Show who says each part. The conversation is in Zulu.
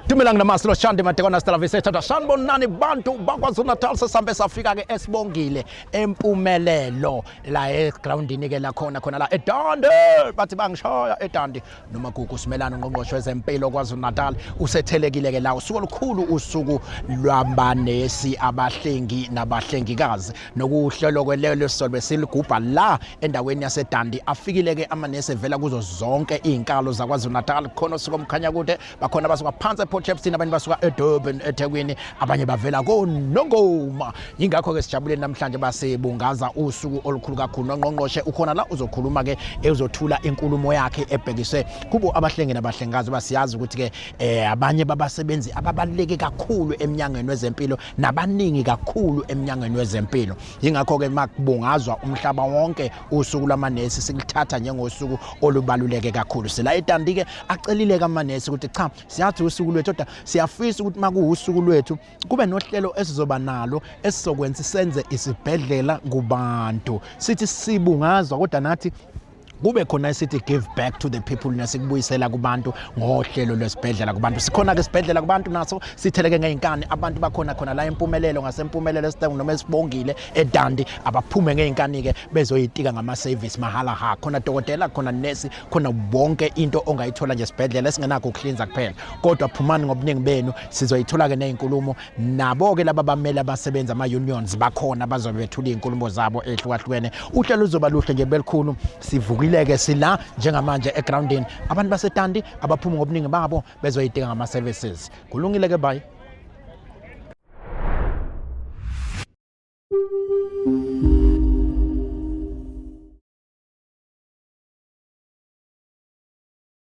Speaker 1: Dumelang namasi loshande madekwana sitalafise thatha sanibonani bantu bakwazulu natal sesambe safika ke esibongile empumelelo la egroundini ke lakhona khona la edande bathi bangishaya edande noma gugu simelana ungqongqoshe wezempilo kwazulu natal usethelekile ke la usuku olukhulu usuku lwabanesi abahlengi nabahlengikazi nokuhlolwa kwelelo sisolo besilugubha la endaweni yasedandi afikile-ke amanesi evela kuzo zonke iy'nkalo zakwazulu-natal khona osuka omkhanya kude bakhona abasuka phansi eport chepston abanye basuka edurban ethekwini abanye bavela konongoma yingakho-ke sijabule namhlanje basibungaza usuku olukhulu kakhulu nongqongqoshe ukhona la uzokhuluma-ke ezothula inkulumo yakhe ebhekise kubo abahlengi nabahlengazi basiyazi ukuthi-ke um abanye babasebenzi ababaluleke kakhulu emnyangweni wezempilo nabaningi kakhulu emnyangweni wezempilo yingakho ke makubungazwa umhlaba wonke usuku lwamanesi sikuthatha njengosuku olubaluleke kakhulu sila etandi ke acelile kamanesi ukuthi cha siyathi usuku lwethu kodwa siyafisa ukuthi makuwusuku lwethu kube nohlelo esizoba nalo esizokwenza senze isibhedlela kubantu sithi sibungazwa kodwa nathi kube khona esithi give back to the people nesikubuyisela kubantu ngohlelo lwesibhedlela kubantu sikhona ke sibhedlela kubantu naso sitheleke ngeinkani abantu bakhona khona la impumelelo ngasempumelelo esidengu noma esibongile edandi abaphume ngeinkani ke bezoyitika ngama service mahala ha khona dokotela khona nesi khona bonke into ongayithola nje sibhedlela esingenakho ukuhlinza kuphela kodwa phumani ngobuningi benu sizoyithola ke nezinkulumo Nabo-ke laba bamele abasebenzi ama-unions bakhona bazobe bethula iy'nkulumo zabo ey'hlukahlukene uhlelo luzoba luhle nje belikhulu sivukileke sila njengamanje egrawundini abantu basetandi abaphumi ngobuningi babo bezoyidinga ngama-services kulungile-ke bayi